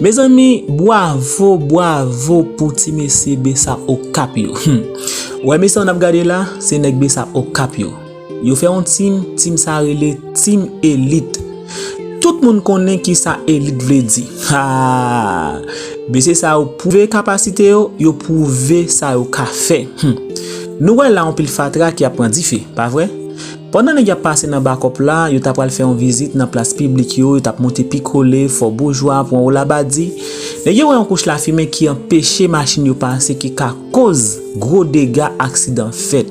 Mezanmi bwavo bwavo pou ti mesye besap okap yo humm wè mesye sa nap gade la se nèg besap okap yo yo fè yon team team sa rele team elit tout moun konnen kisa elit vle di haa mesye sa yo pwouve kapasite yo yo pwouve sa yo ka fè humm nou wè la yon pil fatra ki ap pran dife pa vre. Pandan nèg y ap pase nan bakòp la, yo ta pral fè yon vizit nan plas piblik yo, yo t ap monte pi kole, fò boujwa, pwen wo labadi. Nèg yo wè yon kouch lafimen ki anpeche machin yo pase ki ka koz gwo dega aksidan fèt.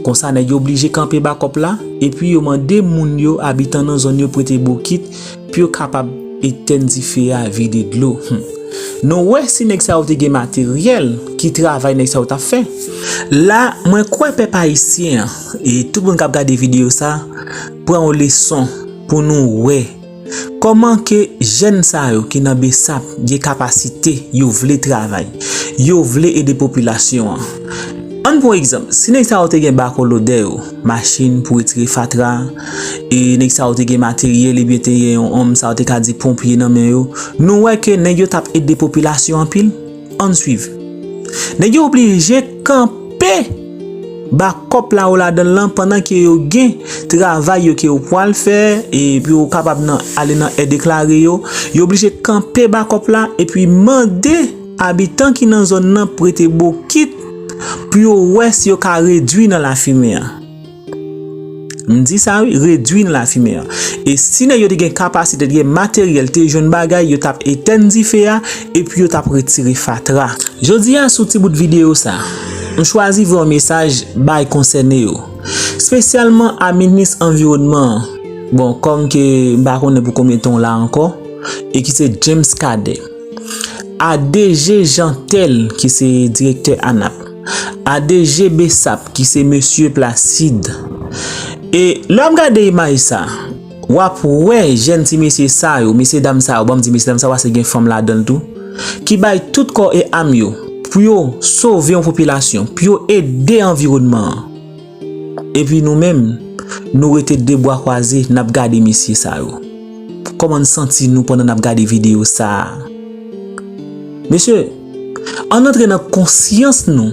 Konsa nèg yo blije kanpe bakòp la, epi yo mande moun yo, abitan nan zòn yo prete bokit pou yo kapab etèn dife a, vide dlo. Hum! Nou wè si nèg sa yo te gen materyèl, ki travay nèg sa yo t ap fè? La, mwen kwè pèp ayisyen an, E tout moun kap gade video sa, pran yon leson pou nou wè Koman ke jèn sa yo ki nan besap gen kapasite yo vle travay, yo vle ede popilasyon an Ann pran yon egzanp, si nèg sa yo te gen bako lodè yo, machin pou retire fatra, e nèg sa yo te gen materyèl ebyen te gen yon sa yo te ka di ponpye nan men yo, nou wè ke nèg yo tap ede popilasyon anpil? Ann swiv. Nèg yo oblije kanpe bakòp la ou ladanl lan pandan ke yo gen travay yo ke yo pwal fè e pou yo kapab nan ale nan e-deklare yo. Yo oblije kanpe bakòp la epi mande abitan ki nan zòn nan prete bokit pou yo wè si yo ka redwi nan lafimen an. M di sa wi, redwi nan lafimen an. E si nèg yo te gen kapasite, te gen materyèl, te jwenn bagay, yo t ap etenn dife a, epi yo t ap retire fatra. Jodi a sou ti bout videyo sa, m chwazi voye yon mesaj bay konsène yo, spesyalman a minis anviwònman an, bon kòm ke m pa konnen pou konbyen tan w la ankò, e ki se James Cadet, a DG Jeantel ki se direktè ANAP. Adeje Bessap ki se mesye Placide. E lè w ap gade imaj sa, w ap wè jèn ti mesye sa yo, mesye dam sa yo, banm di mesye dam sa yo paske gen fanm ladan l tou, ki bay tout kò e am yo pou yo sove yon popilasyon, pou yo ede anviwònman an. Epi nou menm, nou rete de bwa kwaze nap gade mesye sa yo. Koman n santi nou pandan nap gade video sa a? Mesye, ann antre nan konsyans nou.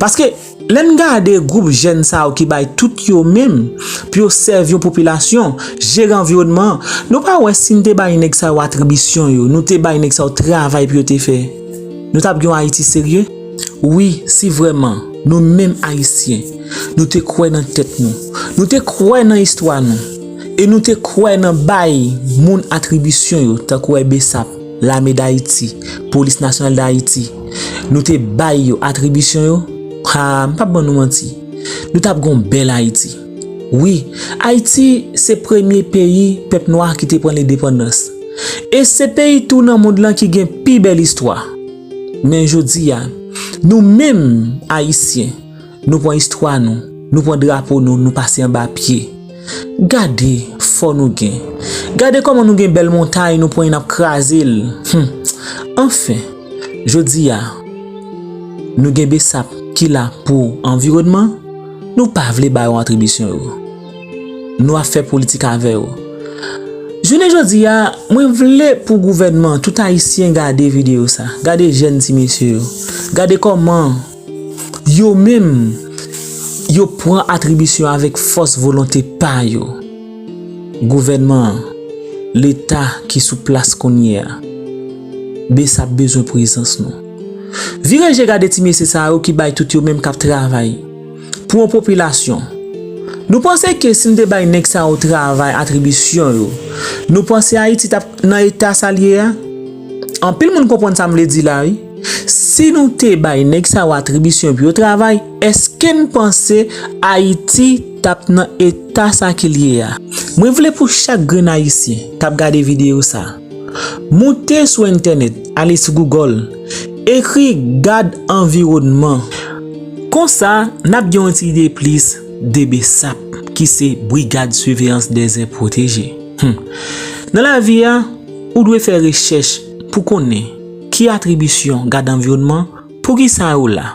Paske, lè n gade gwoup jèn sa yo ki bay tout yo menm pou yo sèvi yon popilasyon, jere anviwònman an, nou pa wè si n te bay nèg sa yo atribisyon yo, nou te bay nèg sa yo travay pou yo te fè, nou tap gen yon Ayiti serye? Wi, si vrèman, nou menm Ayisyen, nou te kwè nan tèt nou, nou te kwè nan istwa nou, e nou te kwè nan bay moun atribisyon yo tankou e bsap, Lame Dayiti, Polis Nasyonal Dayiti, nou te bay yo atribisyon yo, haa, m p ap ban nou manti, nou t ap gen yon bèl Ayiti. Wi, Ayiti se premye peyi pèp nwa ki te pran lendepandans. E se peyi tou nan mond lan ki gen pi bèl istwa. Men jodi a, nou menm Ayisyen, nou pran istwa nou, nou pran drapo nou, nou pase anba pye. Gade fò nou gen. Gade kòman nou gen bèl montay nou pran e n ap kraze l. Hum! Anfen, jodi a, nou gen besap ki la pou anviwònman, nou pa vle ba yo atribisyon yo. Nou ap fè politik avè yo. Jounen jodi a, mwen vle pou gouvènman, tout ayisyen gade videyo sa. Gade jèn ti mesye yo. Gade kòman yo menm yo pran atribisyon avèk fòs volonte pa yo. Gouvènman an, leta ki sou plas kounye a, bsap bezwen prezans nou. Vire je gade ti mesye sa yo ki bay tout yo menm k ap travay. pou yon popilasyon. Nou panse ke si n te bay nèg sa yo travay atribisyon yo, nou panse Ayiti t ap nan eta sa l ye a? Anpil moun konprann sa m vle di la wi. Si nou te bay nèg sa yo atribisyon pou yo travay, èske n panse Ayiti t ap nan eta sa ke l ye a? Mwen vle pou chak grenn Ayisyen k ap gade videyo sa, Moute sou entènèt, ale sou Google, ekri Gad anviwònman. Konsa, n ap gen yon ti ide plis de bsap, ki se Brigad Siveyans Dèzè Pwoteje. Nan lavi a, ou dwe fè rechèch pou konnen ki atribisyon Gad anviwònman, poukisa yo la.